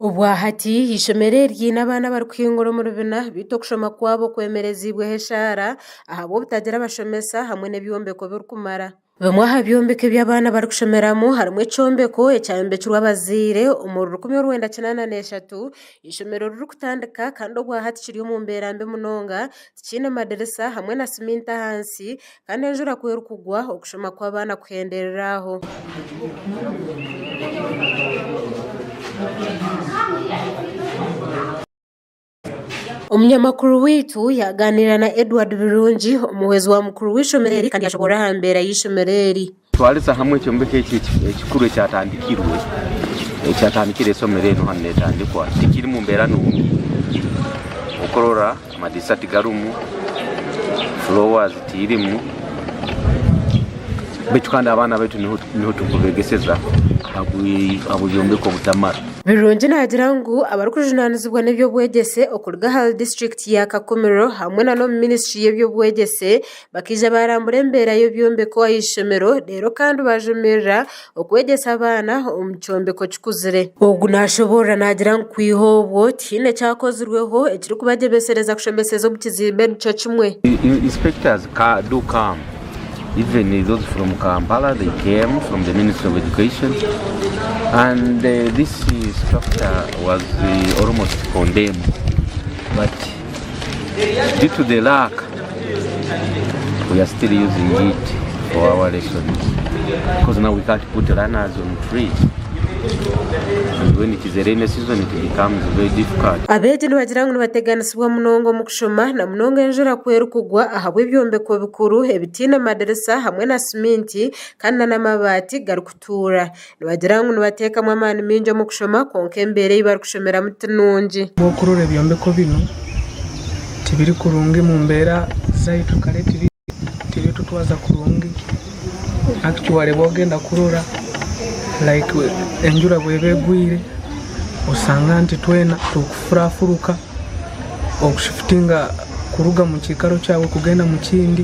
Obwahati eishomero eri riine abaana abarikuhingura omu bibiina beitu okushoma kwabo kwemerezibweho eshaara ahabw'obutagira abashomesa hamwe n'ebyombeko birikumara. Bimwe aha byombeko ebi abaana barikushomeramu harimu ekyombeko ekyayombekirwe abazaire omuri rukumi orwenda kinaana n'eshatu eishomero ririkutandika kandi obwahati kiri omu mbeera mbi munonga tikiine madirisa hamwe na siminti ahansi Kandi enjura ku erikugwa, okushoma kw'abaana kuhenderera aho. Omunyamakuru waitu yaaganira na Edward Birungi, omuhwezi wa mukuru w'eishomero eri kandi yaashoboorora aha mbeera y'eishomero eri. Twarize hamwe ekyombeko eki ekikuru ekyatandikirwe ekyatandikire esomero eri hanu netandikwa tikiri mu mbeera nungi okurora amadirisa tigarimu floors tirimu baitu kandi abaana baitu niho turikubegeseza ahabw'ebyombeko obutamara. Birungi nagira ngu abarikujunanizibwa n'ebyobwegyese okuruga ahari district ya Kakumiro hamwe nana omu ministry y'ebyobwegyese Bakaija baarambura embeera y'ebyombeko aha ishomero reero kandi baajomirira okwegyesa abaana omu kyombeko kikuzire. Ogu naashoboorora naagira ngu kwiha obwo tihaine kyakozirweho ekirikubagyebesereza kushomeseza omu kizimbe nikyo kimwe. Due to the lack, we are still using it for our lessons because now we can't put learners on trees. And when it is a rainy season, it becomes very difficult. Abeegi nibagira ngu nibateganisibwa munonga omu kushoma na munonga enjura ku erikugwa ahabw'ebyombeko bikuru ebitaine madirisa hamwe na siminti kandi n'amabaati garikutuura. Nibagira ngu nibateekamu amaani maingi omu kushoma kwonka embeera ei barikushomeramu ti nungi. Ahabw'okurora ebyombeko binu tibiri kurungi mu mbeera zaitu kare tibitutwaza kurungi. Hati ki waareeba waagenda kurora like enjura bw'eba egwire oshanga nti twena turi kufurafuruka okushifutinga kuruga mu kiikaro kyaawe kugenda mu kindi.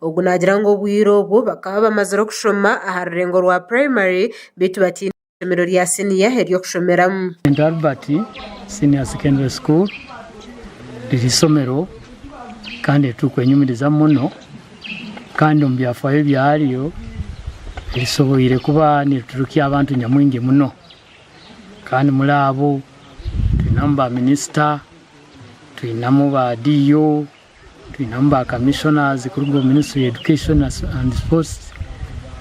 Ogu naagira ngu obwire obwo bakaba bamazire okushoma aha rurengo rwa purayimari beitu bataine eishomero rya siniya ery'okushomeramu. St Albert Senior Secondary School riri eishomero kandi eri turikwenyumirizamu muno kandi omu byafaayo byaryo rishoboire kuba niriturukya abantu nyamwingi muno kandi muri abo twinamu ba minisita, twinamu ba DO. Twinemu ba Commissioners kuruga omu Ministry ya Education and Sports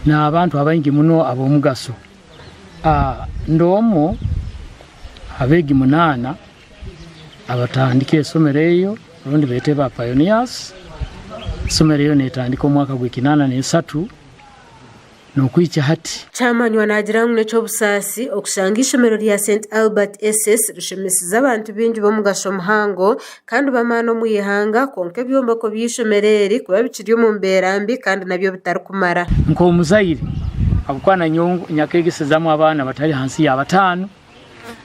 n'abantu abaingi muno ab'omugasho. Ndi omwo ha beegi munaana abatandika esomero eryo rundi beete ba pioneers. Esomero eryo netandika omwaka gw'ekinaana n'esatu. n'okuhikya hati. Kyamanywa naagira ngu n'eky'obusaasi okushanga eishomero rya St Albert SS rishomesize abantu baingi b'omugasho muhango kandi b'amaani omu ihanga kwonka ebyombeko by'eishomero eri kuba bikiri omu mbeera mbi kandi nabyo bitarikumara. Nk'omuzaire, ahabw'okuba nanyowe nyakegyesizamu abaana abatari hansi ya bataano,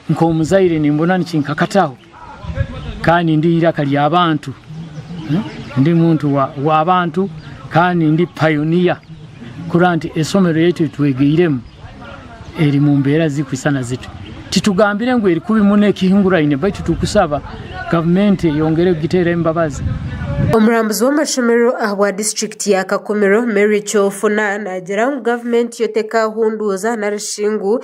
nk'omuzaire nimbona nikinkakataho kandi ndi iraka ry'abantu hmm? ndi muntu w'abantu kandi ndi payoniya kureba nti esomero yaitu etwegeiremu eri mu mbeera zirikwisana zitu titugambire ngu eri kubi muna ekihinguraine baitu tukusaba gavumenti eyongere kugiteera embabazi Omurambuzi w'amashomerero aha bwa disiturikiti ya Kakumiro, Mary Kyofuna, naagira ngu gavumenti yo tekahunduuza narishi ngu